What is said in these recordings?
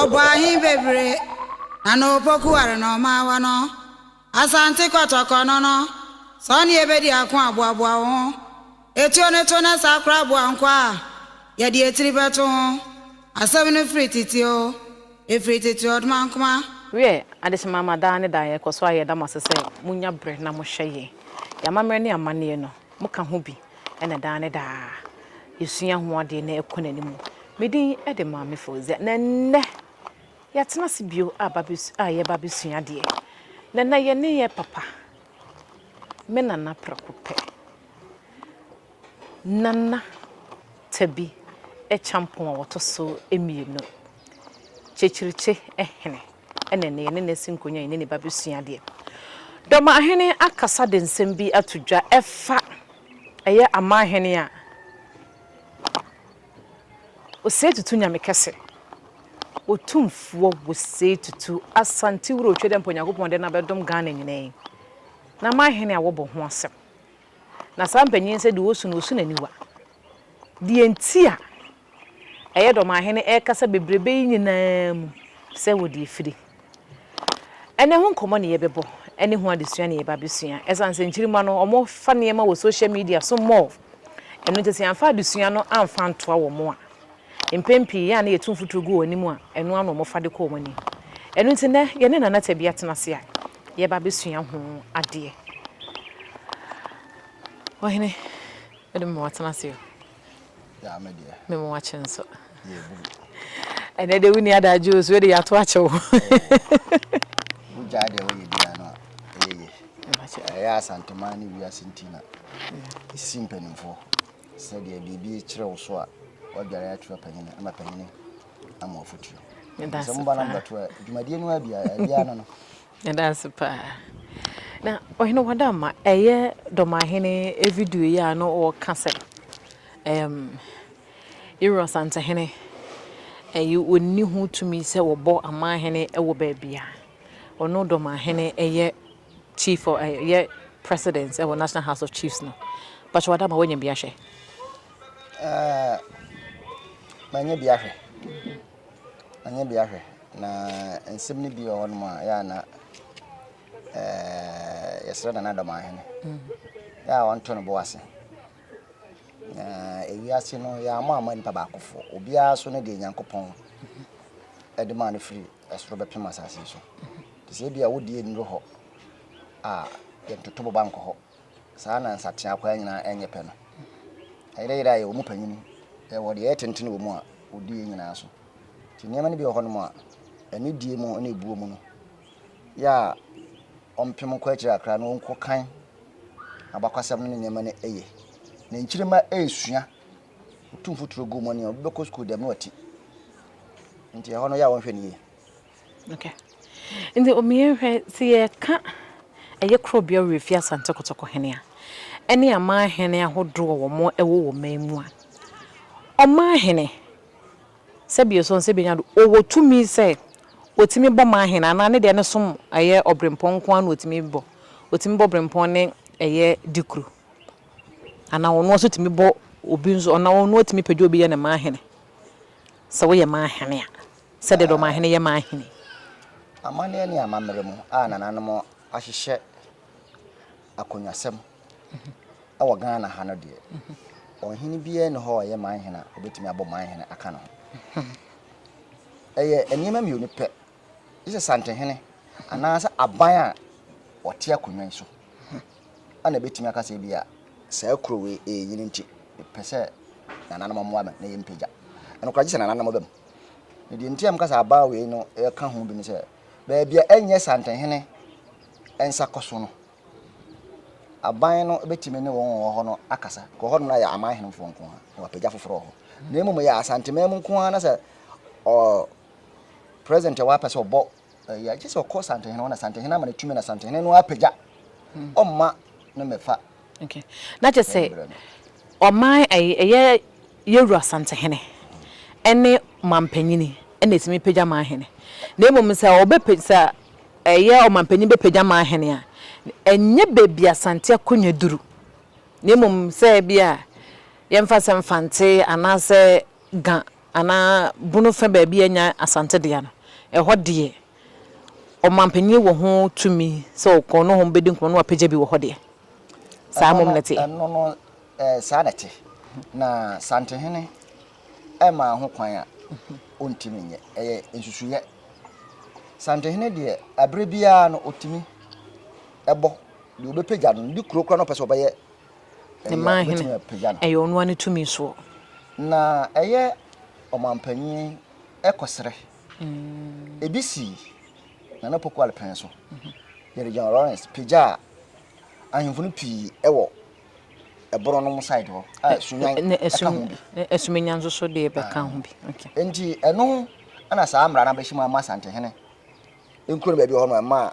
Ɔbɔ ahe bebree na na opoku ware na ɔma awa no? Asante Kɔtɔkɔ no no, sɛ ɔne yɛ bɛdi ako a, boaboa wo ho. Etuo no to na saa koraa boa nkwa a yɛde etiri bɛto ho. Asɛm no firi tete oo, efiri tete ɔdomankoma. Wiɛ, adesamma mma daa ne daa yɛkɔ so ara yɛda mo ase sɛ mo nya berɛ na mo hwɛ yɛn. Yɛn amammerɛ ne amanneɛ no, moka ho bi na daa ne daa yɛsua ho adeɛ na ɛkɔ n'anim. Me din de Maame Fauzia, na nnɛ yɛatena ase bio a yɛreba abɛsua adeɛ. Na na yɛne yɛn papa, me nana prɛko pɛ, Nana Tabi Kyampong a wɔtɔ so mmienu, Kyekyirikye hene. Ɛna ɛnnɛ yɛne no asi nkonnwa, yɛne ne ba bɛsua adeɛ. Dɔmahene akasa de nsɛm bi ato dwa ɛfa ɛyɛ Amahene a Osei Tutu Nyamekɛse, Otumfoɔ Osei Tutu Asantewura Otwedɛmpa Onyankopɔn de no abɛdom Ghana nyinaa yi n'amahene a wɔbɔ ho asɛm. Na saa mpanyin yi sɛdeɛ ɔresu no, ɔresu n'aniwa. Deɛ nti a. Ɛyɛ dɔ ma ahene ɛkasa bebrebe yi nyinaa mu sɛ wode afiri. Ɛnɛ ho nkɔmmɔ ne yɛbɛbɔ ɛne ho adesua ne yɛba bɛsua. Ɛsiane sɛ nkyirimma no wɔn fa nneɛma wɔ social media so more ɛno nti sɛ yɛamfa adesua no amfa antoa wɔn a mpɛn pii yɛ a na yɛtu mfuturo gu wɔn anim a ɛno ara na wɔfa de kɔ wɔn anim. Ɛno nti nnɛ yɛne Nana Tabi atena ase a yɛba bɛsua ho adeɛ. Ɔhene, wode me ma watena ase o. Yeah, me deɛ. Me mo wakye nso. Yeah, bu. Ɛnɛ de wo ni adagye o, so de yato akye wo. Wo gya de wo yɛ bia no. Ɛyɛ yɛ. Ɛyɛ asantema ne wiase ntina. Ɛsi mpanimfoɔ sɛ deɛ biribi kyerɛ wo so a wadware atua panyini ama panyini ama afotuo. Sɛ mo ba no mbɛto a dwumadie no a bia bia no no. Yɛda ase paa. Na Ɔhene Wadamma, ɛyɛ Dɔmahene video yi a na ɔreka sɛ ɛɛm Yero Asantehene ɛyi ɔnni ho tumi sɛ wɔbɔ Amanhene wɔ baabi a ɔno Dɔmahene ɛyɛ Chief ɔ ɛyɛ President ɛwɔ National House of Chiefs no. Pakyɛ Wadamma woanya bi ahwɛ? Ah, manya bi ahwɛ. Ɔnyɛ bi ahwɛ. Na nsɛm no bi wɔ hɔnom a, yɛ a na yɛsrɛ Nana Dɔmahene yɛ a ɔnto no bo ase. Na ewiase no yɛammɔ amma nipa baakofo. Obiara so ne deɛ Nyankopɔn de maa no firi ɛsoro bɛpem asase so. Te sɛ ebi a wodie nnuru hɔ a, yɛntoto boba nkɔ hɔ. saa na nsateaa akwaa nyinaa nyɛ pɛ no. Ayerayera yɛ wɔn panyin, yɛwɔ deɛ ɛyɛ tenten wɔ mu a ɔdi yɛn nyinaa so. Nti nneɛma no bi wɔ hɔnom a, anidie mu ne buo mu no, yɛ a ɔmpem kɔ akyiri kakra na ɔnkɔ kan abakwasɛm no ne nneɛma no yɛ. Na nkyirima resua, ɔtu mfuturo gu mu ne obi bɛkɔ sukuu dɛm na wati. Nti ɛhɔ no yɛ a wɔnhwɛ no yie. Okay. Nti omi yɛn hwɛ sɛ yɛka ɛyɛ koro bea wɔ efi Asante Kotoko hene a ɛne aman hene ahodoɔ wɔ mo ɛwɔ wɔ man mu a ɔman hene sɛ bi esuon sɛ bi nya do ɔwɔ tumi sɛ ɔtumi bɔ man hene anaa ne deɛ ne som ɛyɛ ɔbrempɔn nko ara na ɔtumi bɔ ɔtumi bɔ ɔbrempɔn ne ɛyɛ dikuru anaa ɔno nso tumi bɔ obi nso ɔna ɔno ɔtumi pɛgya obi yɛ ne man hene sɛ woyɛ man hene a. Sɛdeɛ dɔmahene yɛ ma ahene. Amanneɛ ne amammerɛ mu a nananom ahyehyɛ akonnwasɛm wɔ Ghana ha no deɛ, ɔhene biara nni hɔ a ɔyɛ manhene a ɔbɛtumi abɔ manhene aka ne ho. Ɛyɛ nneɛma mmienu pɛ, gye sɛ Santehene anaasɛ aban a wɔte akonnwa yi so na ɛbɛtumi aka sɛ bi a saa kuro wei ɛrenyini nti mepɛ sɛ nananom mmoa me na yɛmpagya. Ɛnokorɛ gye sɛ nananom ba mu. Na deɛ nti a meka sɛ aban wei no ka ho bi ne sɛ, baabi a ɛnyɛ Santenhene nsa kɔ so no, aban no bɛtumi ne wɔn wɔ hɔ no akasa. Kɔ hɔ no na yɛ aman henefoɔ nko ara na wapagya foforɔ wɔ hɔ. Na mmom yɛ Asanteman mu nko ara na sɛ ɔ president ɛwɔ apɛ sɛ ɔbɔ Ɛyɛ agye sɛ ɔkɔ santehene hɔ na santehene ama no tumi na santehene no apagya ɔma no mɛfa. Okay. Na kyɛ sɛ ɔman ɛyɛ yɛwura santehene ɛne mampanyini ɛna ɛtumi pagya manhene. Na mmom sɛ ɔbɛpɛ sɛ ɛyɛ ɔmampanyini bɛpagya manhene a ɛnyɛ baabi a sante akonnwa duru. Na mmom sɛ bia yɛmfa sɛ mfante anaasɛ Ga anaa Bono fã baabi a anya Asante dea no, ɛhɔ deɛ, ɔmanpanin wɔ ho tumi sɛ ɔkɔ nohɔ bɛdi nkɔmmɔ na wapagya bi wɔ hɔ deɛ. Saa mmom na ɛteɛ. Ɛno no, saa na ɛte. Na Santehene mmaa ho kwan a ɔntumi nyɛ. Ɛyɛ nsusuiɛ. Santehene deɛ, ɛberɛ biara no, ɔtumi bɔ deɛ ɔbɛpagya no, ne kuro koraa na ɔpɛ sɛ ɔbɛyɛ Ne mmaa hene, ɛyɛ ɔno ara ne tumi soɔ. Na ɛyɛ ɔmanpanin kɔsrɛ. Ebi sii Nana Poku Alpɛn so. Yɛde John Lawrence pagyaa ahemfo no pii wɔ ɛboro nom side hɔ a Sunyan ka ho bi. Asumenya nso so deɛ bɛka ho bi. Nti ɛno na saa mmara no abɛhyɛ mu ama Asantehene nkuro no baabi hɔ no ɛma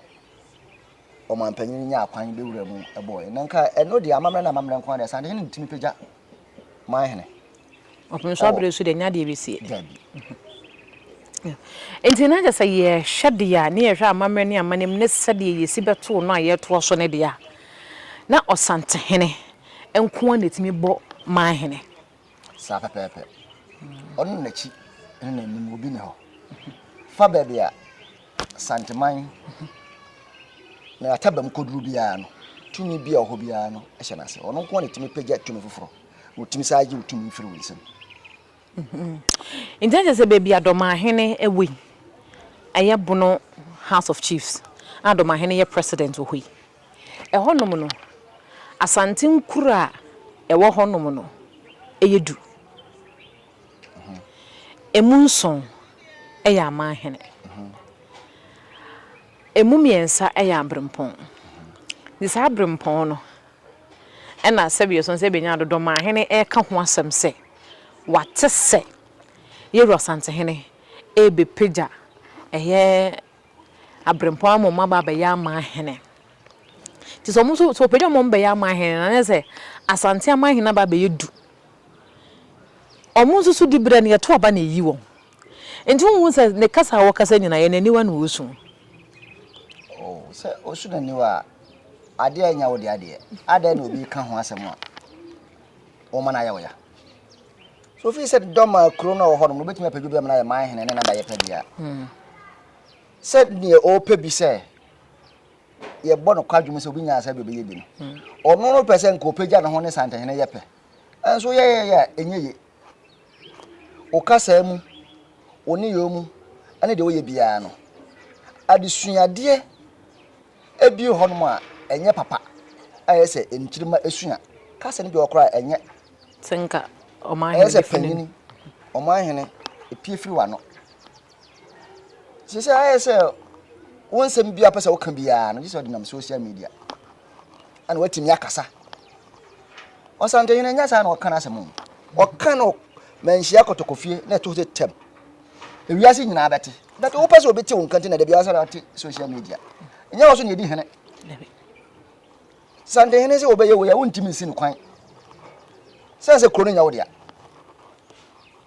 ɔmanpanyin no nyaa kwan bewura mu bɔɔ yɛn. Na nka ɛno deɛ amammerɛ na amammerɛ nko ara deɛ saa deɛ hene ntumi pagya man hene. Ɔpene so abere so deɛ nya deɛ ɛbɛsie. Dabi. Nti na kyɛ sɛ yɛhwɛ deɛ a ne yɛhwɛ amammerɛ ne amanneɛm ne sɛdeɛ yɛsi bɛtoo no a yɛtoa so no deɛ a, na Ɔsantehene nko ara na ɛtumi bɔ man hene. saa pɛpɛɛpɛ. Ɔno na n'akyi ne n'anim obi ne hɔ. Fa baabi a Santeman na Atabam kɔduru biara no, tumi bi a ɔhɔ biara no hyɛ n'ase. Ɔno nko na ɛtumi pagya tumi foforɔ na ɔtumi saa gye wo tumi firi wo nsam. Nti ɛkyɛ sɛ baabi a Dɔmahene wɔ yi, ɛyɛ Bono House of Chiefs a Dɔmahene yɛ president wɔ hɔ yi. Ɛhɔnom no, Asante nkuro a ɛwɔ hɔnom no yɛ du. Ɛmu nson yɛ amanhene. Ɛmu mmiɛnsa yɛ aberempɔn. Nti saa aberempɔn no na sɛdeɛ ɛsɔ sɛ bɛnya Dodomaahene reka ho asɛm sɛ wate sɛ Yeru Asantehene rebɛpagya ɛyɛ aberempɔn ama wɔn aba abɛyɛ amanhene. Nti sɛ wɔn nso, sɛ wɔpagya wɔn bɛyɛ amanhene no, na sɛ Asante amanhene aba abɛyɛ du. Wɔn nso so diberɛ no, yɛto aba na yɛyi wɔn. Nti wonhu sɛ ne kasa a wɔkasa nyinaa, yɛn aniwa na wɔsu. O, sɛ ɔsu n'aniwa a, adeɛ a ɛnyɛ wo dea deɛ, adɛn na obi reka ho asɛm a wɔma no ayɛ wo ya? So wofi sɛ dɔm a kuro no a wɔwɔ hɔ no mu wobɛtumi apɛ bi ama no ayɛ man hene ne nada yɛpɛ deɛ a hmm. sɛ deɛ ɔpɛ bi sɛ yɛbɔ no kwadwom sɛ obi nyaa sɛ deɛ ɔbɛyɛ bi no hmm. ɔno no pɛ sɛ nka ɔpɛgya ne ho ne santahene yɛ pɛ nso yɛyɛyɛ a ɛnyɛ ye wo kasaa mu wo nneyɛɛ mu ne deɛ woyɛ biara no adesuadeɛ ebi hɔ nom a ɛnyɛ papa a ɛyɛ sɛ nkyirima esua kasa no bi wɔ koraa ɛnyɛ Sɛ nka ɔmanhene Ɛyɛ sɛ bɛfiri ne panyini, ɔmanhene, pue firi w'ano. Seesei ayɛ sɛ wo nsɛm bi a wopɛ sɛ woka biara no, gye sɛ ɔde nam social media ɛna watumi akasa. Ɔsantehene nyɛ saa na ɔka n'asɛm o. Ɔka no manhyia kɔtɔkɔfie na ɛto sɛ tɛm. Ewiase nyinaa bɛte. But wopɛ sɛ obi te wo nka nti na da biara sɛ ɔte social media. Nyɛ wo so na ɛdi hene. Dabi. Santehene sɛ wɔbɛyɛ wei a wontumi nsi no kwan sɛne sɛ kuro no nyɛ wo dea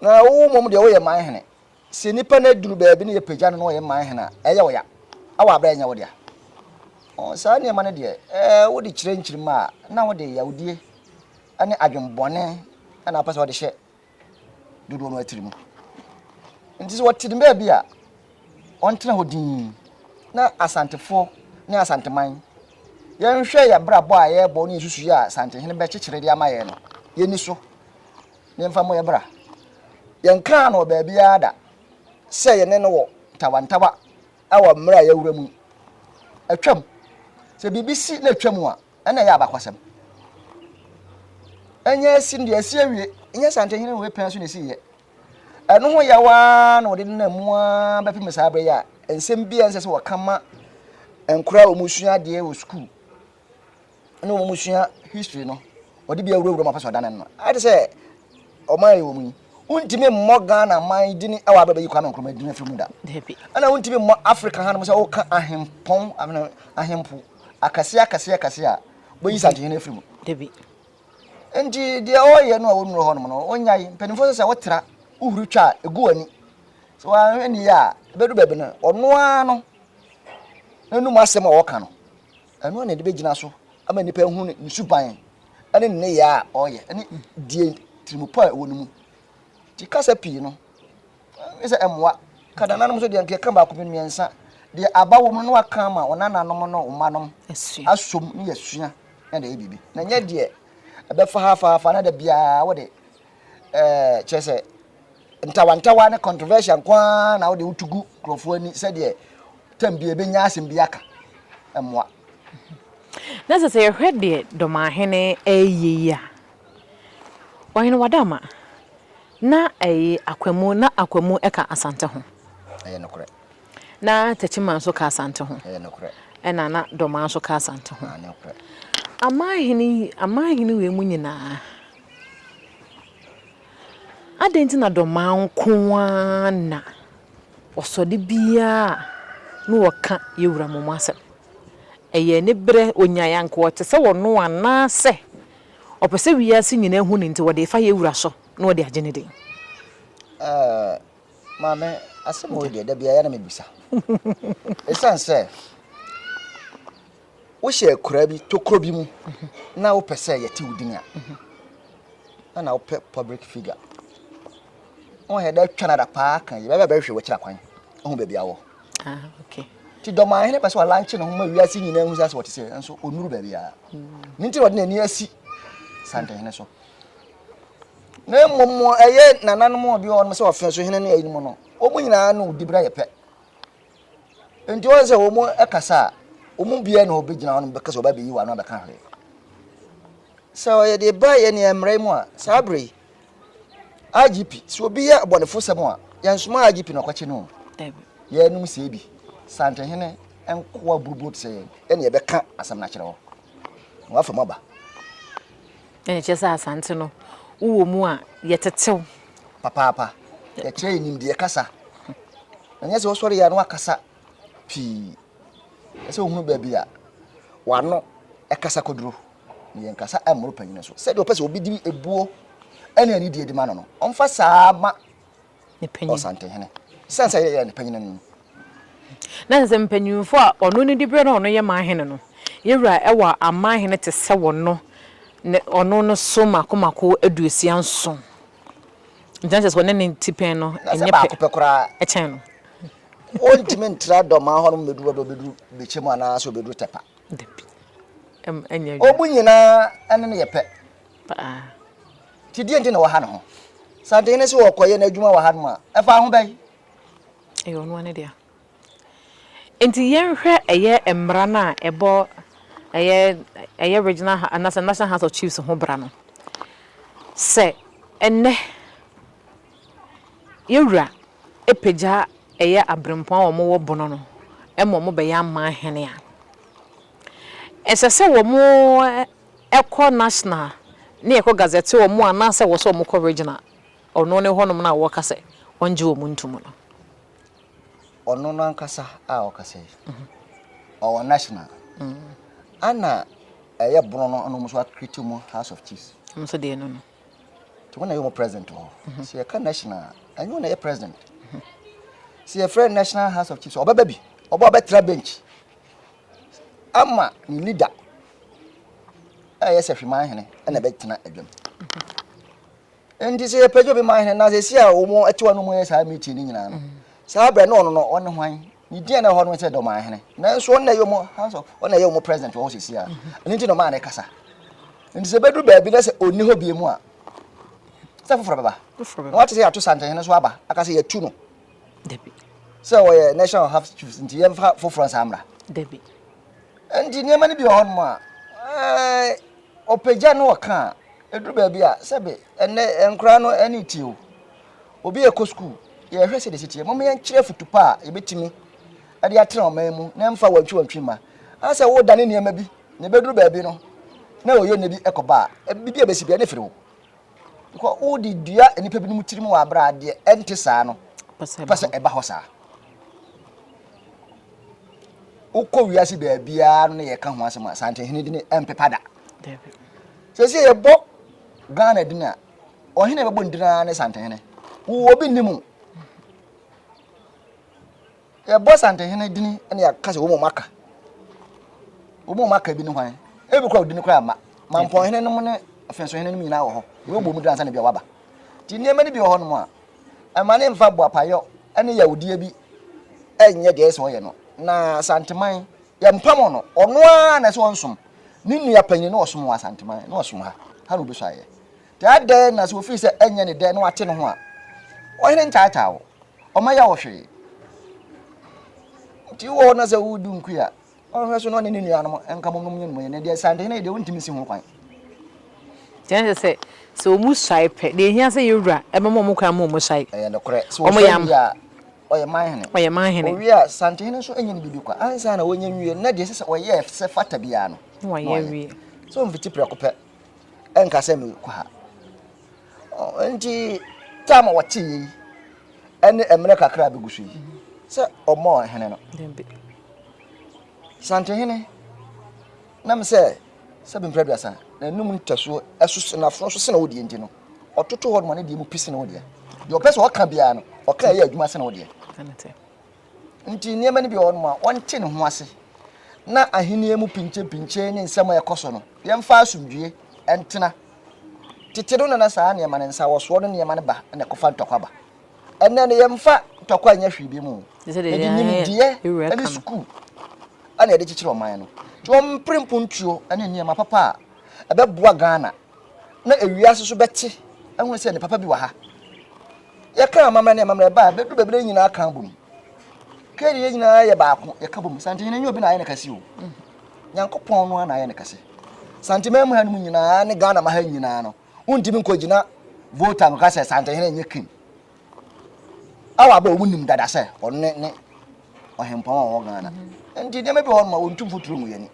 na wo mmom deɛ woyɛ man hene sɛ nipa no aduru baabi ne yɛpagya no na ɔyɛ man hene a ɛyɛ wo ya awɔ aberɛ ɛnyɛ wo dea saa nneɛma no deɛ ɛɛ wode kyerɛ nkyirima a na wode yawdie ne adwembɔne na apɛ sɛ ɔde hyɛ dodoɔ no atirimu. Nti sɛ wɔte ne baabi a, ɔntena hɔ dinn na Asantefoɔ ne Asanteman yɛnhwɛ yɛn brabɔ a yɛrebɔ ne yɛsusu yɛ a Asantehene bɛkyekyere de ama yɛn no, yɛni so na yɛmfa mmɔ yɛn bra. Yɛnkaa no wɔ baabiara da sɛ yɛne no wɔ ntawantawa wɔ mmerɛ a yɛawura mu. Atwam. Sɛ biribi si na atwam a, ɛna ɛyɛ abakwasɛm. Ɛnyɛ asi no deɛ asi awie, ɛnyɛ santehene wei pɛn so na ɛsi yɛ. Ɛno ho yɛ waa na wɔde nena mu ara bɛpem saa berɛ yi a nsɛm bi a ɛnsɛ sɛ wɔka ma nkora a wɔn sua adeɛ wɔ sukuu ne wɔn sua history no wɔde bi awurawura mu apɛ sɛ ɔdane no ayɛ te sɛ ɔman yɛ wɔn yi wontumi mmɔ ghana man dini ɛwɔ abɛbɛ yi kwame nkrumah dini afiri mu da ɛna wontumi mmɔ africa hanom sɛ woka ahempɔn ahempo akɛseɛ akɛseɛ akɛseɛ a wobɛyi sankyenhene afiri mu. Enti deɛ ɔreyɛ no a wɔnnuro hɔnom no, wɔnyae. Mpanimfoɔ sɛ sɛ wotra, wohuri twa a, ɛgu w'ani. Sɛ wɔanhwɛ ne yɛ a, ɛbɛdu baabi no, ɔno ara no n'anom asɛm a ɔka no, ɛno ara na ɛde bɛgyina so ama nnipa ahu ne suban ne ne nneyɛɛ a ɔreyɛ ne deɛ tirimupɔ a ɛwɔ no mu. Nti kasa pii no, Gye sɛ mmoa. Kadananom nso deɛ, nka yɛka baako pɛ, mmiɛnsa. Deɛ aba wɔ mu no na wɔaka ama wɔn nananom ne wɔn mmanom asom ne yɛasua na yɛde ayɛ biribi. Na nyɛ deɛ ɛbɛfa ha fa ha fa na da biara wode ɛɛ kyerɛ sɛ ntawantawa ne controversial nko ara na wode wotu gu nkurɔfoɔ ani sɛdeɛ tam bi ɛbɛnya asɛm bi aka. Mmoa. Na sɛ sɛ yɛhwɛ deɛ Dɔmahene ɛreyɛ yi a, Ɔhene Wadaama, Na ɛye Akwamu na Akwamu ka Asante ho. Ɛyɛ nokorɛ. Na Techiman nso ka Asante ho. Ɛyɛ nokorɛ. Ɛna na Dormaa nso ka Asante ho. Aane nokorɛ. Amanhene yi, amanhene wei mu nyinaa, adɛn nti na Dormaa nko ara na ɔsɔ de biara a ne wɔka Yewura Momo asɛm? Ɛyɛ aniberɛ, ɔnyaeɛ anka ɔte sɛ ɔno anaasɛ Ɔpɛ sɛ wiase nyinaa hu no nti wɔde fa yɛ wura so na ɔde agye ne din. Ɛɛ maame asɛm wei deɛ da biara na mebisa ɛsiane sɛ wohyɛ akuraa bi tokuro bi mu na wopɛ sɛ yɛte wo din a na na wopɛ public figure wọn yɛ dɛ twa nada paa kan yi bɛbɛ bɛhwɛ wɔ akyira kwan ɔho baabi awɔ ah, nti dɔmahene pɛ sɛ ɔlanche ne ho ma wiase nyinaa ahu sɛ asɛ wɔte sɛ nso ɔnuru baabi a hmm. ne nti na ɔde n'ani asi santehene so na mmom ɛyɛ nananom a bi wɔ hɔ no sɛ ɔfɛ so hene ne ayinom no wɔn nyinaa no di bra yɛ pɛ nti wɔn sɛ wɔn kasa a wɔn biara na ɔbɛgyina hɔ no bɛka sɛ ɔbɛbɛyi wɔn ano abɛka hwee sɛ ɔyɛ de ba yɛ nea mmerɛ mu a saa bere yi IGP sɛ obi yɛ abɔnefosɛm a yɛnsoma IGP na ɔkɔkye no yɛnom sɛ bi santehene nkoa burubuo te sɛ yɛn ɛne yɛbɛka asɛm no akyerɛ hɔ na wafa mu aba ɛne kyerɛ sɛ asante no wowɔ mu a yɛtetew papaapa yɛkyerɛ yɛ nimdeɛ kasa ɛnyɛ sɛ wosɔre yɛ no akasa pii ɛsɛ wohunu baabi a wano ɛkasa kɔduro Yɛnkasa mmoro panyin so. Sɛdeɛ ɔpɛ sɛ obi de ebuo ne anidie de ma no no, ɔmfa saa ara ma Ɔsantehene. Sɛn sɛ yɛyɛ ne panyin no? Na sɛ mpanyimfoɔ a ɔno no di berɛ na ɔno yɛ man hene no, yɛn wura wɔ aman hene te sɛ wɔno, ne ɔno no so mmaako mmaako aduosia nson. Nti na kyerɛ sɛ ɔne ne tipɛn no Na sɛ nyɛ baako pɛ pɛ koraa, kyɛn no. ɔntumi ntra Dɔmaa hɔ no mmɛduru baabi a ɔbɛduru Bekyɛ mu anaasɛ ɔbɛduru Tɛpa. Dabi. Ɛm, ɛnyɛ adwuma. Obu nyinaa ne no yɛ pɛ. Paa. Nti deɛ nti na wɔha ne ho? Sɛ den ne sɛ wɔkɔyɛ n'adwuma wɔ ha nom a, ɛfa ho bɛn? Ɛyɛ ɔno ara ne dea. Nti yɛnhwɛ ɛyɛ mmara no a ɛbɔ ɛyɛ ɛyɛ regional anaasɛ national house of chiefs ho bra no. Sɛ ɛnnɛ. Yɛ Wura apagya ɛyɛ abrempɔn a wɔn wɔ bono no ma wɔn bɛyɛ aman hene a, ɛsɛ sɛ wɔn kɔ national ne yɛ kɔ gazette wɔn a na sɛ wɔ sɛ wɔn kɔ regional ɔno ne hɔ nom no a wɔ ka sɛ wɔn gye wɔn nto mu no. Ɔno no ankasa a ɔka sɛ ɔwɔ national ana ɛyɛ bono no ɔno nso akiriti mu house of chiefs. Wɔn nso deɛ no no. nti wɔn na yɛ wɔn president wɔ hɔ sɛ yɛka national a ɛnyɛ wɔn na yɛ president sɛ yɛfrɛ national house of chiefs ɔbɛba bi ɔbɔ ɔbɛtra bench ama ne leader a yɛ sɛ hweman hene ɛna ɛbɛtena adwam nti sɛ yɛpɛgya obi man hene na sɛ si a wɔn ɛte wɔn mu yɛ saa meeting no nyinaa no saa abirɛ no ɔno no ɔne hwan Ne din a na ɛwɔ hɔ no ne sɛ Dɔmanhene. Nanso ɔno na ɛyɛ wɔn House of ɔno na ɛyɛ wɔn president wɔ hɔ sisi a. Ɛno nti na ɔmaa no kasa. Nti sɛ ɛbɛduru baabi na sɛ ɔnni hɔ bie mu a, sɛ foforɔ bɛba. Na wate sɛ yɛato santehene nso aba, aka sɛ yɛatu no. Dabi. Sɛ ɔyɛ national half chiefs nti yɛmfa foforɔ nsa mmra. Dabi. Nti nneɛma no bi wɔ hɔnom a, ɛɛ ɔpagya no ɔka a, ɛduru baabi a, sɛbe ɛnɛ nkoraa no ɛne tie o. Obi rekɔ sukuu, yɛhwɛ sɛdeɛ ɛsi teɛ. Momma yɛnkyerɛ afotu pa a yɛbɛtumi de atena ɔman mu na ɛmfa wantwiwantwi mma. Ana sɛ woredane nneɛma bi na ɛbɛduru baabi no na ɔyɛ nna bi kɔba a, biribi a ɛbɛsi biara ne firi wo. Because wode dua nnipa binom tirim wɔ aberɛ a deɛ ɛnte saa no pɛ sɛ ɛba hɔ saa. Wokɔ wiase baabiara no na yɛka ho asɛm a santehene dini ɛmpepa da. Sɛsɛ yɛbɔ Ghana dini a Ɔhene bɛbɔ ndin ara ne Santehene. Wo obi nni mu. Yɛbɔ Santehene dini ne yɛaka sɛ wɔn mu aka. Wɔn mu aka bi ne hwan? Ebi kora odini kora ma. Mampɔnhene nom ne afensohene nom nyinaa wɔ hɔ. Wɔbɔ mu dini ansa na bi a waba. Nti nneɛma no bi wɔ hɔ nom a ɛma ne mfa boapayɔ ne yawudie bi ɛnyɛ deɛ ɛsɛ ɔyɛ no. Na Santeman Yɛmpam ɔno. Ɔno ara na ɛsɛ ɔnsom. Ne nua panyin na ɔsom wɔ Asanteman, na ɔsom ha. Ha na obesua ayɛ. Te adɛn na sɛ ofii sɛ ɛnyɛ ne dɛ na wate ne ho a, ɔhene ntaataa wo. Ɔma yɛ wo hwee. Nti wowɔ hɔ na sɛ wodu nkui a, ɔnhwɛ so na ɔne ne nuanom nka mmom nom nyɛ no mu yɛ. Na deɛ Asantehene yɛ deɛ wontumi si ho kwan. Nti na ɛsɛ sɛ, sɛ wɔsuae pɛ, deɛ ɛhia sɛ yɛn wura bɛma wɔn kwan ma wɔsuae. Ɛyɛ nokorɛ. Sɛ wɔsuae wie a, Ɔyɛ man hene. Ɔyɛ man hene. Owie a, santehene nso nyɛ ne biribi kwa. Ansa na wɔnyɛ nwie no, na deɛ ɛsɛ sɛ ɔyɛ sɛ ɛfata biara no, na wayɛ awie. So mfiti prɛko pɛ nka sɛ mekɔ ha. Nti tam a wɔte yei ɛne mmerɛ kakra a bɛgu so yi sɛ ɔmmɔ hene no. Santehene nam sɛ sɛ bimprɛ aduasa na anum ntasuo ɛso na afono so sena wo deɛ nti no ɔtoto hɔ nom ne deɛ mu pi sene wo deɛ deɛ ɔpɛ sɛ ɔka biara no ɔka ɛyɛ adwuma sene wo deɛ nti nneɛma no bi wɔ nom a wɔnte ne ho ase na ahenni mu pinkyepinkyee ne nsɛm a ɛkɔ so no yɛmfa asomdwie ɛntena tete no nana saa nneɛma no nsa wɔsoɔ no nneɛma no ba na ɛkɔfa ntɔkwa ba ɛnɛ no yɛmfa ntɔkwa nyɛ hwee bi mu yɛde nimdeɛ ne sukuu ɛna yɛde kyekyere ɔman no nti wɔmpere mpontuo ne nneɛma papa a ɛbɛboa Ghana na ewiase so bɛte ahu sɛ ne papa bi wɔ ha. Yɛka amammerɛ ne amammerɛ baa, bɛdu baabi na nyinaa ka bom. Kɛdi yɛ nyinaa yɛ baako, yɛka bom. Sante hene nyɛ obi na ayɛ ne kɛse o. Nyankopɔn no na ayɛ ne kɛse. Sante mɛmu ha no mu nyinaa ne Ghana ma ha nyinaa no, wontumi nkɔgyina vote a nka sɛ Sante hene nyɛ king. Awa abɛ wɔn nim dada sɛ ɔno ne ɔhempɔn a ɔwɔ Ghana. Nti nneɛma bi wɔ hɔ no ma wɔntu mfuturo mu yɛni.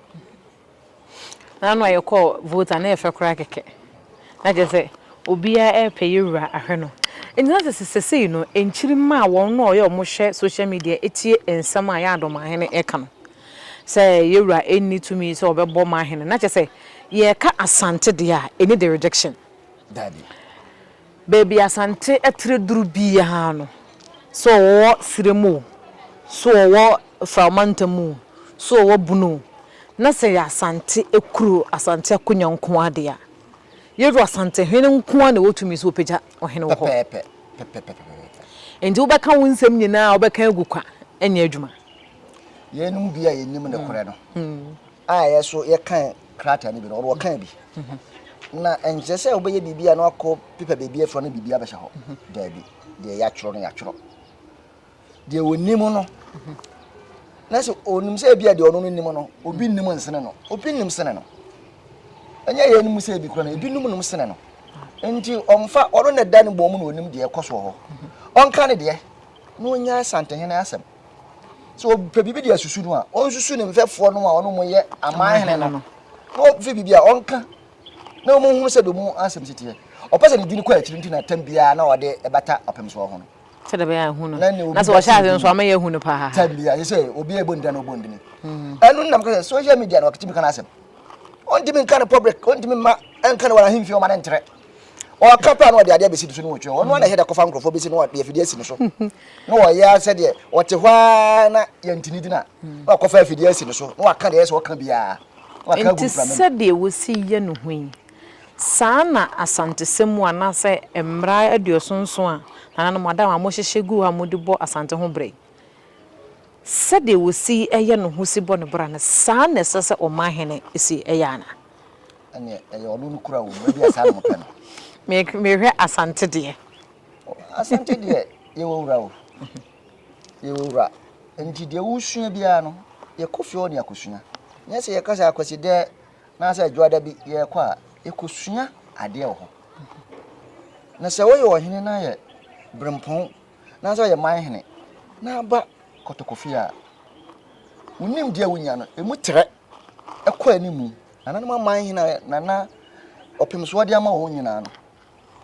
Na ano a yɛkɔɔ vote a na yɛfɛ koraa kɛkɛ. Na kyerɛ sɛ obiara repɛ yɛwura ahwɛ no. Nti na sɛ sesei no nkyiri maa wɔn no a wɔyɛ wɔn hwɛ social media ɛtie nsɛm a yɛn adɔmahene ɛka no. Sɛ yɛwura ɛnni tumi sɛ ɔbɛbɔ mahene. Na kyerɛ sɛ yɛka Asante deɛ a ɛni the rejection. Dabi. Baabi Asante atire duru biara no, sɛ ɔwɔ serɛ mu o, sɛ ɔwɔ Frahoma ntam o, sɛ ɔwɔ bunu o, na sɛ ɛyɛ Asante kuro, Asante akonya nko ara deɛ a, Yeru Asantehene nko ara na ɛwɔ tumi sɛ ɔpagya ɔhene wɔ hɔ. Enti wobɛka wo nsɛm nyinaa a wobɛka agu kwa nyɛ adwuma. Yeinom bi a yɛnim nokorɛ no, a yɛn nso yɛka krataa no bi no, ɔde ɔkaa bi. Na ɛnkyerɛ sɛ wobɛyɛ biribi a na wakɔ pepa baabi afura no biribi abɛhyɛ hɔ. Daabi, deɛ yɛatwerɛ no yɛatwerɛ. Deɛ ɔnim no, na sɛ ɔnim sɛ ebi a deɛ ɔno no nim no, obi nim nsene no, obi nim sene no. Ɛnyɛ yɛn mu sɛ ebi kura no, ebi num num sene no. Nti ɔmfa ɔno na ɛda ne bɔn mu na ɔnim deɛ ɛkɔ soɔ hɔ. Ɔnka ne deɛ na ɔnya asantehene asɛm. sɛ ɔpɛ biribi de asusu no a ɔnsusu ne mfɛfoɔ no a ɔno mo yɛ aman hene no na ɔfi biribi a ɔnka na ɔmo hunu sɛ bɛmu asɛm si teɛ ɔpɛ sɛ ne dini kɔ akyiri nti na tam biara na ɔde ɛbata ɔpem soɔ ho no sɛ dɛ bɛyɛ ahunu na sɛ ɔhyɛ ase nso ama yɛ ahunu paa tam biara sɛ obi a ɛbɔ ndina na ɔbɔ ndini hmm. ɛno nam kɛ sɛ social media na ɔkatimi ka no asɛm ɔntimi nka no public ɔntimi ma ɛnka no wɔ ahemfie ɔma no ntrɛ ɔka paa na ɔde adeɛ abɛsi ne so ne wɔtwerɛ ɔno ana ɛhɛ da kɔfa nkurɔfoɔ bɛsi na ɔde afidie asi ne so na ɔyɛ ara sɛ deɛ ɔte hɔ ara na yɛntini gyina na ɔkɔfa afidie asi ne so na waka deɛ ɛsɛ ɔka biara nti sɛdeɛ wɔsi yɛ no ho yi saa na asantesɛ mu anaasɛ mmara aduosonson a nananom ada a wɔhyehyɛ gu hɔ a wɔde bɔ asante ho bra yi sɛdeɛ wɔsi yɛ no ho si bɔ ne bra no saa na ɛsɛ sɛ ɔman hene si yɛ ana ɛneɛ ɛyɛ ɔno no kura wɔ mu ɛbi asaa na mopɛ no mehwɛ asante deɛ asante deɛ yɛwɔ wura o yɛwɔ wura nti deɛ wosua biara no yɛkɔ fie hɔ ne akɔsua nyɛ sɛ yɛka sɛ akwasi dɛ na sɛ adwoada bi yɛkɔ a yɛkɔsua adeɛ wɔ hɔ na sɛ woyɛ ɔhene na yɛ berempɔn na sɛ yɛ man hene na aba kɔtɔkɔfie a wonim deɛ wonya no ɛmu trɛ ɛkɔ anim. Nananom aman hena na na ɔpem so ɔde ama wɔn nyinaa no?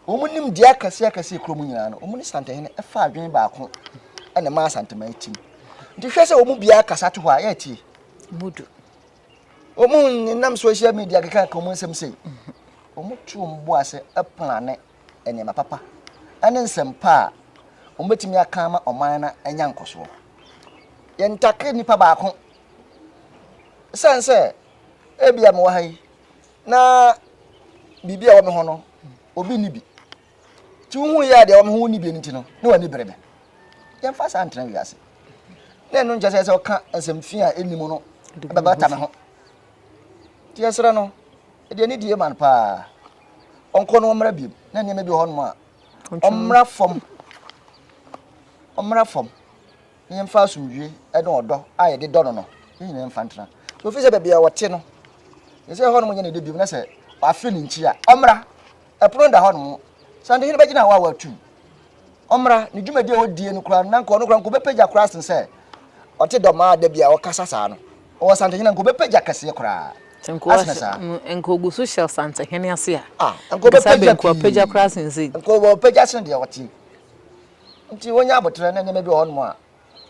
Wɔn nimdeɛ akɛseɛ akɛseɛ kurom nyinaa no, wɔn ne Santahene ɛfa adwene baako ɛna ɛmaa Santaman atim. Nti hwɛ sɛ wɔn biara kasa to hɔ a yɛatie. Mudu. Wɔn nenam social media keka ka wɔn nsɛm sei. Wɔn to wɔn bo ase ɛplane nneɛma papa ɛne nsɛm pa a wɔbɛtumi aka ama ɔman no anya nkɔsoɔ. Yɛntake nipa baako Esiane sɛ ebia mewɔ ha yi na biribi a ɛwɔ me ho no, obi nni bi. Nti wohu yɛ a deɛ ɛwɔ me ho wonni bi no nti no, ne w'ani bere me. Yɛmfa saa ntena wiase. Na ɛno nkyɛ sɛ sɛ ɔka nsɛm fi a ɛnni mu no bɛbata me ho. Nti yɛsrɛ no, deɛ ne die ma no paa, ɔnkɔ no ɔmmra biom na nneɛma bi wɔ hɔ nom a ɔmmra fam ɔmmra fam yɛmfa asomdwoeɛ ne ɔdɔ a yɛde dɔ no no, yɛn nyinaa mfa ntena. So ɛfiri sɛ baabi a ɔte no, yɛ sɛ ɛhɔ nom nyɛ ne dɛ biom, na sɛ wafe ne nkyi a, ɔmmra. Ɛpono no da hɔ nom. Sɛ ndehene bɛgyina hɔ a watu. Ɔmmra. Ne dwumadi a ɔdie no koraa, na nka ɔno koraa nka ɔbɛpagya koraa sen sɛ ɔte dɔm a da bi a ɔkasa saa no. Ɔwɔ santehene nka ɔbɛpagya kɛseɛ koraa. Asene saa. Nka ɔgu so hyɛ santehene ase a. Ah, nka ɔbɛpagya pii. Nka ɔbɛpagya koraa sen sɛ. Nka ɔbɛpagya sen deɛ ɔte. Nti wɔnya aboterɛ ne nneɛma bi wɔ hɔnom a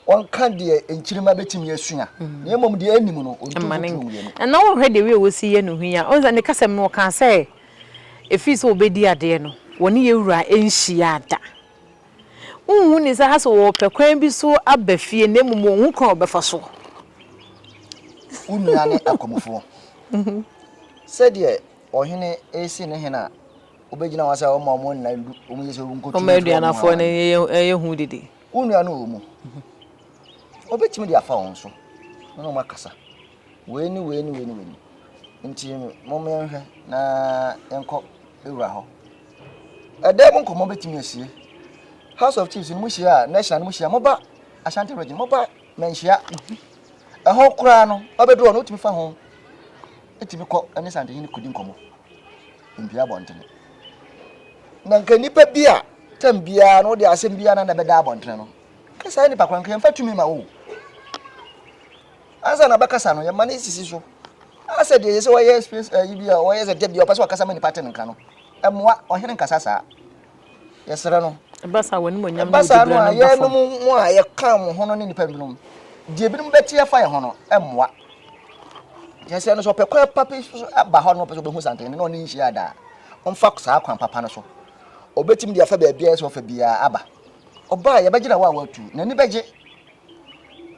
wɔnka deɛ nkyirima bɛtumi asua na mmom deɛ ɛnim no ɔntu mfuturo mmienu. Ɛna wohwɛ deɛ wei a wɔsi yɛ no ho yi a, wohu sɛ ne kasam no ɔkaa sɛ ɛfiri sɛ ɔbɛdi adeɛ no wɔne yɛn wura nhyiaa da. Wonhu ne sɛ ha sɛ ɔrepɛ kwan bi so aba fie na mmom ɔnhu kwan a ɔbɛfa soɔ. Wo nua ne akwamufoɔ. Sɛdeɛ ɔhene resi ne hene a Wobɛgyina wɔn ase a wɔma wɔn nna ndu, wɔn yɛ sɛ wɔn nkotwi. Wɔn aduanafoɔ no yɛ hu didi. Wo nua no wɔ mu. Wɔbɛtumi de afa wɔn so, wɔn a wɔakasa. Wei ne wei ne wei ne wei. Nti mo mmenhwɛ na yɛnkɔ ewura hɔ. Ɛdɛm nkɔmɔ bɛtumi asie. House of Chiefs no mo hyia a, national no mo hyia, mo ba Ashanti region, mo ba manhyia. Ɛhɔ koraa no, ɔbɛduru hɔ no, wotumi fa ho, etumi kɔ ɛne santehene kodi nkɔmɔ. Mpue abɔntene. Na nka nipa bi a tam biara no de asɛm biara na na bɛda abɔntene no. Ka saa nipa kwan nka yɛmfa tumi ma wo. Ansa na bɛkasa no yɛma no sisi so. Asɛ deɛ yɛ sɛ wɔyɛ space ayi eh, bi a wɔyɛ sɛ da bi a ɔpɛ sɛ ɔkasa ma nipa te ne nka no. Ɛmmoa ɔhene nkasa saa. Yɛsrɛ no. Ɛba saa a, w'animuonyam ne wo diberɛ no bɛfam. Ɛba saa no a, yɛnom mo a yɛka mo ho no ne nnipa binom, deɛ ebinom bɛte afa yɛn ho no, ɛmmoa. Yɛsrɛ no sɛ ɔpɛ kwan pa bi so aba hɔ no, ɔpɛ sɛ ɔbɛhu Santene na ɔne nhyia daa, ɔmfa saa kwan papa no so. Ɔbɛtumi de afa baabiara sɛ ɔfa biara aba. Ɔba a, yɛbɛgyina hɔ a watu, n'ani bɛgye.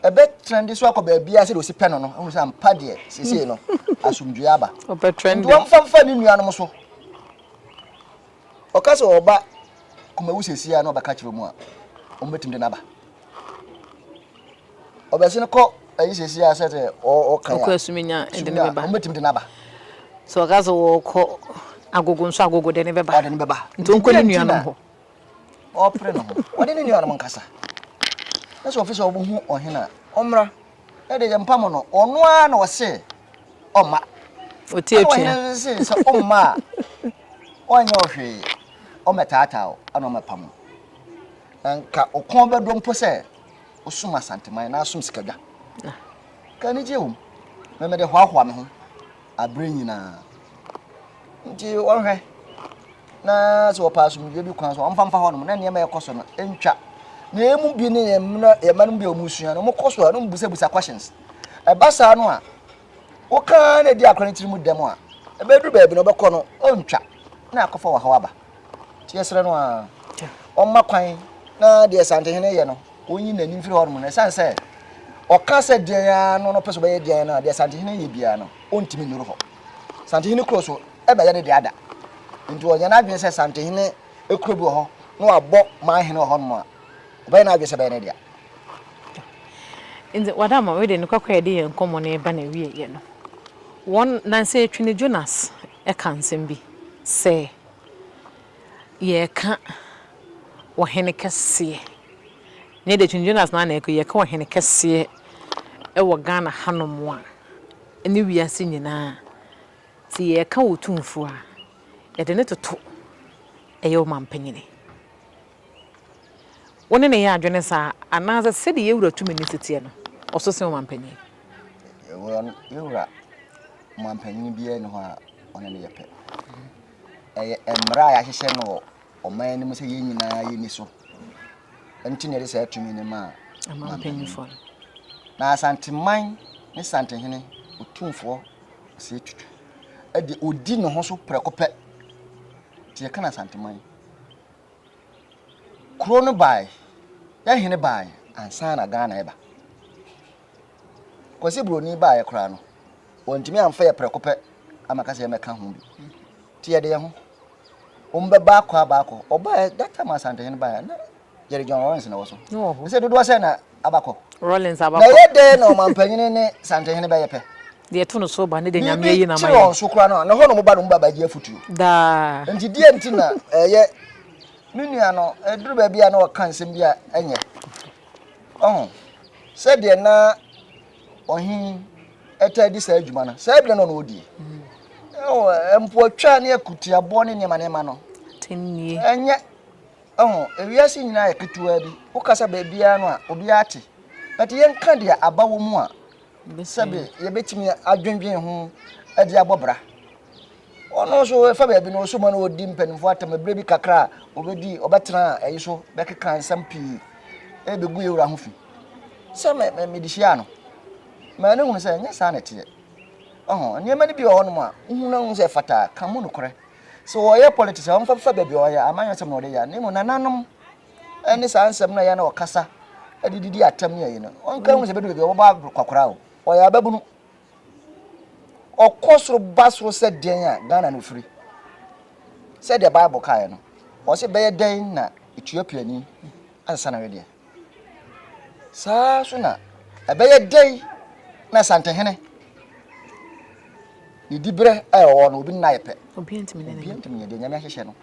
Ɛbɛtrɛnde so akɔ baabiara sɛdeɛ ɔsi pɛ no no, ahu sɛ ampa deɛ seesei no asomdwoeɛ aba. Ɔbɛtrɛnde. Nti wɔmfa mfa ne nuanom so. Ɔka sɛ ɔba Kumawu sɛsi a na ɔbɛka kyerɛ ɔmu a ɔmu bɛtumi de no aba. Ɔbɛse no kɔ ayi sɛsi a sɛ sɛ ɔka ya. Ɔkɔ asuminya ɛde ne bɛba. Ɔmu bɛtumi de no aba. Sɛ ɔka sɛ ɔkɔ agogo nso agogo de ne bɛba. Ɔde ne bɛba. Nti ɔnkɔ ne nuanom hɔ. Ɔpere no ho. Ɔde ne nuanom nkasa. Na sɛ ɔfisɛ ɔbɛhu ɔhene a ɔmmra. Na de yɛmpa mo no, ɔno ara na ɔse ɔmma. Ɔti atua. Ɛna ɔhene se sɛ ɔmma a, ɔnyɛ ɔhwee, ɔmɛtaataa o, ɛna ɔmɛpa mo. Na nka ɔkɔn bɛdɔ mpo sɛ ɔsum asanteman na asom sikadwa. Ka anigye wom, mɛmɛde hoahoa me ho bere nyinaa. Nti wɔhwɛ na sɛ wɔpɛ asomdwoe bi kwan so wɔmfa mfa hɔnom na nneɛma ɛkɔ so no ntwa. Na emu bi ne yɛn mma yɛn mma no bi a wɔsua no wɔkɔ so a na wɔbisabisa questions. Ɛba saa no a wokaa na edi akora no tirim dɛm a ɛbɛduru baabi na ɔbɛkɔ no ɔntwa na akɔfa wɔ haw aba. nti yɛsrɛ no a ɔmma kwan na deɛ santehene yɛ no ɔnyi n'ani mfiri hɔ nom no ɛsiane sɛ ɔka sɛ deɛn ara no no pɛ sɛ ɔbɛyɛ deɛn no a deɛ santehene yɛ biara no ɔntumi nnuru hɔ santehene kuro so ɛbɛyɛ ne deɛ ada nti ɔnyɛ n'adwene sɛ santehene kuro bi wɔ hɔ na wabɔ man hene wɔ hɔ nom a ɔbɛyɛ n'adwene sɛ ɛbɛyɛ ne dea nti wada ma wei de no kɔkɔ yɛde yɛn nkɔmmɔ no ɛba na ɛwieɛ no wɔn nansa ɛtwi no jonas ka nsɛm bi sɛ yɛreka ɔhene kɛseɛ, nyɛ deɛ King Jonas no ara na ɛka o, yɛreka ɔhene kɛseɛ wɔ Ghana hanom a, ne wiase nyinaa, sɛ yɛreka Otumfoɔ a, yɛde no toto ɛyɛ Ɔmanpanin. Wo ne no yɛ adwene saa a, anaasɛ sɛdeɛ Yɛwura Tumi no si teɛ no, ɔso sen Ɔmanpanin? Yɛn wura manpanin biara nni hɔ a ɔne no yɛ pɛ. Ɛyɛ mmara a yɛahyehyɛ no wɔ ɔman no mu sɛ yɛn nyinaa yɛni so. Nti na yɛde saa tumi no maa mampanyinfoɔ no. Na Asanteman ne Santehene Otumfoɔ Osei Tutu de ɔdi ne ho so prɛko pɛ. Nti yɛka no Asanteman. Kuro no bae, yɛn hene bae ansa na Ghana ɛba. Kwasi buroni baeɛ koraa no, wɔntumi amfa yɛ prɛko pɛ ama ka sɛ yɛmmɛka ho bi. Nti yɛde yɛn ho. Wɔn bɛ baako a baako. Ɔbaeɛ, that time Asantehene baeɛ, na yɛde John Rollins na wɔ so. Ne wɔ hɔ. Sɛ dodoɔ sɛ na abakɔ. Rollins abakɔ. Na ɛyɛ dɛn na ɔmampanyini ne Santehene bɛyɛ pɛ? Deɛ ɛto no so ba ne deɛ Nyame ayi na ma yɛ. Biribi kyerɛ wɔn so koraa no a, na hɔ na wɔn ba no wɔn ba bɛgye afutuo. Daa. Nti deɛ nti na ɛyɛ me nua no, ɛduru baabi a na ɔka nsɛm bi a ɛnyɛ. Ɔho, sɛdeɛ na ɔhen taa di saa adwuma no, saa berɛ no na ɔdie. Ɔho, mpoatwa ne akutiaboɔ ne nneɛma nneɛma no. Atemnie. Ɛnyɛ, ɔho, ewiase nyinaa yɛ ketewa bi. Wokasa baabiara no a, obiara te. But yɛnka deɛ aba wɔ mu a, sɛbe yɛbɛtumi adwendwen ho de abɔ bra. ɔno nso ɛfa baabi no ɔsoma no ɔdi mpanimfoɔ atam ɛberɛ bi kakra a ɔbɛdi ɔbɛtena ɛyi so bɛkeka nsɛm pii ɛbɛgu yɛ wura ho fi sɛ mede hyia no ma ne hunu sɛ ɛnyɛ saa na ɛteɛ ɔho nneɛma no bi wɔ hɔnom a wohu no hu sɛ fataa ka mu nokorɛ sɛ ɔyɛ politics a ɔmfa fa baabi ɔyɛ amanyɛ sɛm na ɔde yɛ ne mu nananom ɛne saa nsɛm no ɛyɛ na ɔkasa ɛde didi atam ne ayi no ɔnka hu sɛ bɛdu baabi ɔbɛbɔ kwakora o ɔyɛ ababunu Ɔkɔ soro ba soro sɛ dɛn a, Ghana na ofiri. Sɛdeɛ Bible kaeɛ no, ɔse bɛyɛ dɛn na etua piani asesa ne wedeɛ. Saa so na ɛbɛyɛ dɛn na Asantehene ne diberɛ a ɛwɔ no obi nna yɛ pɛ. Obiara ntumi nyɛ deɛ Nyame ahyehyɛ no.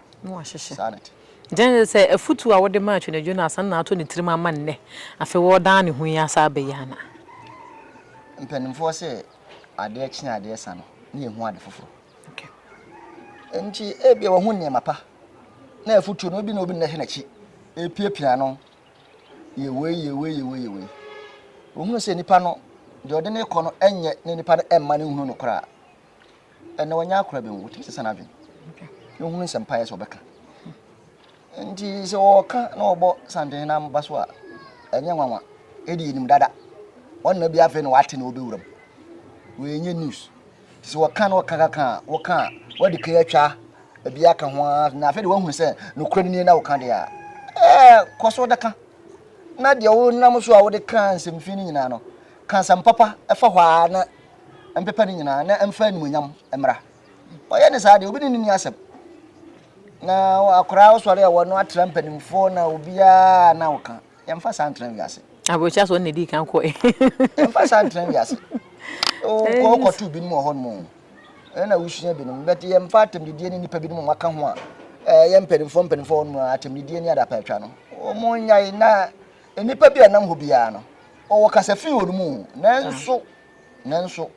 Saa na ɛte. Gyina hwɛ sɛ afotu a wode maa Twenedwo no asan na ato ne tirim ama nnɛ. Afei wɔredan ne ho yi asan aba yi ana? Mpanimfoɔ se adeɛ kye a adeɛ sa no na yɛhu ade foforɔ. Enti ebia wahu nneɛma pa na afotuo no ebi na obi nnɛ hwɛ n'akyi repiapia no yɛ wei yɛ wei yɛ wei yɛ wei. Ohunu sɛ nipa no deɛ ɔde no rekɔ no nyɛ ne nipa no mma no nhunu no koraa. ɛnna wɔnyɛ akora bi mu wɔtumi sesa n'adwene na ohunu nsɛmpa yɛ sɛ ɔbɛka nti sɛ ɔka na ɔbɔ santen na ba so a ɛnyɛ nwanwa ɛdi yɛnim dada ɔnna bi afei na wate na ɔbɛwuram wɔnyɛ news sɛ wɔka na ɔka kaka a wɔka a wɔde kan atwa ebi aka ho ara na afei de wɔahunu sɛ nokorɛ no nie na wɔka deɛ a ɛɛ kɔ so dɛka na deɛ wonam so a wode ka nsɛmfii no nyinaa no ka nsɛm papa ɛfa hɔ ara na mpepa ne nyinaa na ɛmfa animuonyam mmra. Ɔyɛ ne saa deɛ obi ne no ni asɛm. Na akwaraa ɔsɔre a wɔn atra mpanimfoɔ na obiara na ɔka yɛmfa saa ntena wiase. Aburokyia so ɔne di kan kɔ yi. Yɛmfa saa ntena wiase. Ɔkɔ ɔkɔ tu binom wɔ hɔ nom. Ɛna wusua binom bɛte yɛmfa atɛmdidie ne nipa binom wɔaka ho a ɛyɛ eh, mpanimfoɔ mpanimfoɔ wɔn mu atɛmdidie ne adapɛtwa no. Wɔn nyae na nipa bi a nam hɔ biara no ɔwɔ kasafi wɔ no mu nanso. Nanso,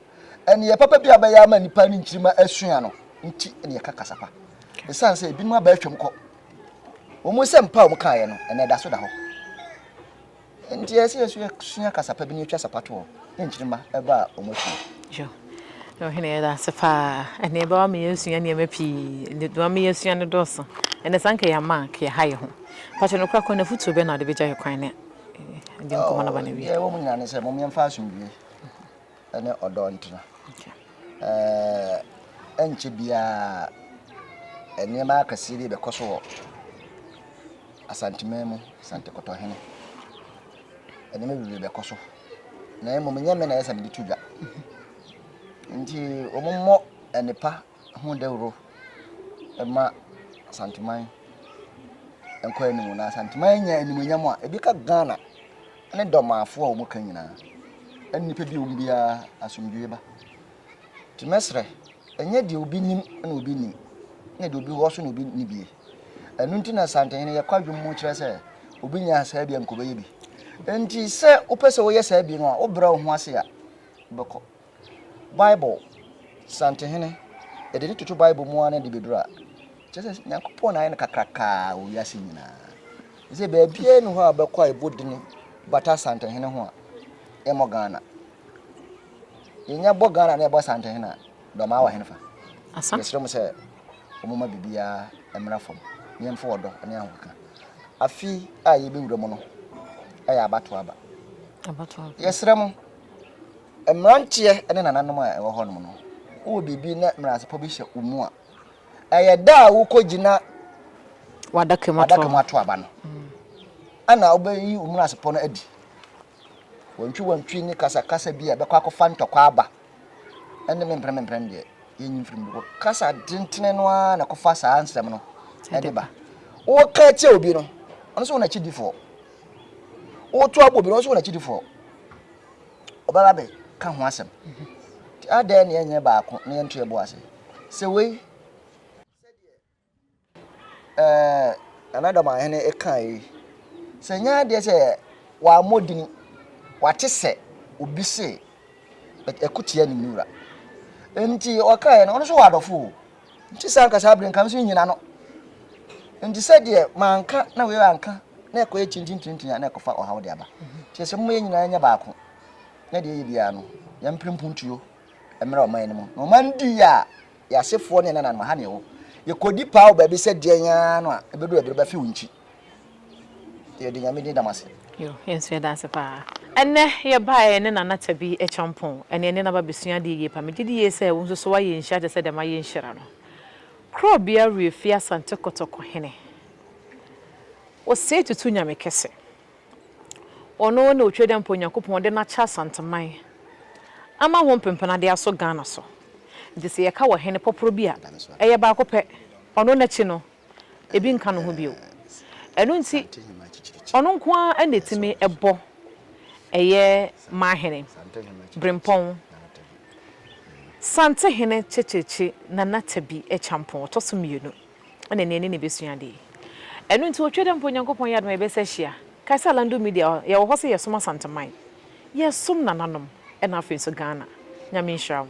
ɛnneɛ papa bi a bɛyɛ ama nnipa ne nkyirimma asua no nti na yɛka kasa pa. Ɛsiane sɛ ebinom aba atwam kɔ, wɔn nsɛm pa a wɔkaeɛ no, ɛnna ɛda so da hɔ. Nti ɛyɛ sɛ yɛsua kasa pa bi na yɛtwa sapa toɔ ne nkyirimma ɛba a wɔn akyi. na ɔhene yɛda ase paa ɛne ɛbɛwa ma yɛasua nneɛma pii ɛbɛwa ma yɛasua no dɔɔso ɛnɛ sanka yɛama ka yɛha yɛ ho pakyɛ no kora kɔ na fotuo bɛ na ɔde bɛgya yɛ kwan ne Deɛ ɛwɔ mu nyinaa ne sɛ momyɛmfa asomdwie ne ɔdɔ ntena. Ɛnkyɛ biara nneɛma akɛseɛ bi bɛkɔ so wɔ Asanteman mu, Asante Kɔtɔhene. Nneɛma bebree bɛkɔ so na mmom nyɛ me na ɛsɛ sɛ mede to dwa nti wɔmmɔ nnepa ho dawuro ma Asanteman nkɔ anim na Asanteman nya animuonyam a ebi ka Ghana ne dɔmaafo a wɔn ka nyinaa ɛne nipa bi wɔn biara asomdwoe ba te mɛsrɛ ɛnyɛ deɛ obi nim na obi nim na deɛ obi wɔ so na obi ni bie ɛno nti na Asantehene yɛkɔ adwom mu kyerɛ sɛ obi nya saa bi a nkɔbɛyɛ bi nti sɛ wopɛ sɛ woyɛ saa bi no a wobrɛ wo ho ase a wobɛkɔ Bible santehene, yɛde no toto Bible mu ara na ɛde bɛduru a, kyerɛ sɛ Nyankopɔn na ayɛ no kakrakaa wɔ wiase nyinaa. Sɛ baabiara ni hɔ a bɛkɔ a ɛbɔ din bata santehene ho a, ɛmmɔ Ghana. Yɛnya bɔ Ghana na ɛbɔ santehene a, dɔmaa wɔ henefa? Yɛsrɛ mu sɛ wɔmma biribiara mmra fam na yɛmfa ɔdɔ ne ahokeka. Afi a yɛbɛwura mu no yɛ abatoɔ aba. Yɛsrɛ mo Mmeranteɛ ne nananom a ɛwɔ hɔnom no, wowɔ biribi na menasepɔ bi hyɛ wo mu a, ɛyɛ da a wokɔgyina wadaka mu ato aba no ɛna wobɛyi wo menasepɔ no adi. Wɔntwi wɔntwi ne kasakasa bi a ɛbɛkɔ akɔfa ntɔkwa aba ɛne memprɛ memprɛ no deɛ yɛnyi mfiri mu bɔ kasa dentene no ara na ɛkɔfa saa nsɛm no ɛde ba woka kyɛ obi no ɔno sɛ wɔn akyidifoɔ woto abo bi na ɔso wɔn akyidifoɔ ɔbɛba bɛ ka ho asɛm nti adɛn na yɛnyɛ baako na yɛnto yɛbo ase sɛ wei ɛɛ anadam ahene ɛka yi sɛ nyɛ adeɛ sɛ wɔamɔ din wate sɛ obi se ɛkotia ne nwura nti ɔkaeɛ no ɔno so wɔ adɔfo o Nti sɛ anka saa bere nka me so nnyina no. Nti sɛ deɛ manka na wei anka na ɛkɔyɛ kyinkyinkyinkyini a na ɛkɔfa ɔhaw de aba. Nti ɛsɛ moma yɛn nyinaa nyɛ baako na deɛ ɛyɛ biara no yɛn mpere mpuntuo mmerɛ ɔman no mu. Na ɔman di yɛ a yɛasefoɔ ne ɛnananom ha ne ɛwɔ. Yɛkɔdi paa wɔ baabi sɛ deɛn ara no a ɛbɛdu ɛberɛ bɛfe wo nkyi. Yɛde Nyame din da mo ase. Yo, yɛnso yɛda ase paa. Ɛnnɛ yɛbaeɛ ne Nana Tabi Acheampong, ɛne ɛne no aba abɛsua adeɛ yie paa. Megyedi yie sɛ wo nso so woayɛ nhyira te sɛ deɛ mayɛ nhyira no. Korɔbea Wiefie Asante Kotoko hene, ɔsɛe tutu Nyame kɛse. Ɔno ne Otwedeɛmpa Onyankopɔn ɔde no akyɛ Asanteman ama ho mpempena de asɔ Ghana so. Nti sɛ yɛka ɔhene pɔporɔ bi a, ɛyɛ baako pɛ. Ɔno n'akyi no, ebi nka ne ho bio. Ɛno nti, ɔno nko ara na ɛtumi bɔ ɛyɛ Mahene, Brempɔn, Santehene Kyekyekye Nana Tabi Kyampɔn, ɔtɔ so mmienu, ɛna nea ɛne no bɛsua adeɛ. Ɛno nti ɔtwa da mpo Onyankopɔn yɛ adom a yɛbɛsa ahyia. Kae sɛ Alando Media, yɛwɔ hɔ sɛ yɛsom Asanteman, yɛsom nananom, ɛna afei nso Ghana. Nyame nhyira wo.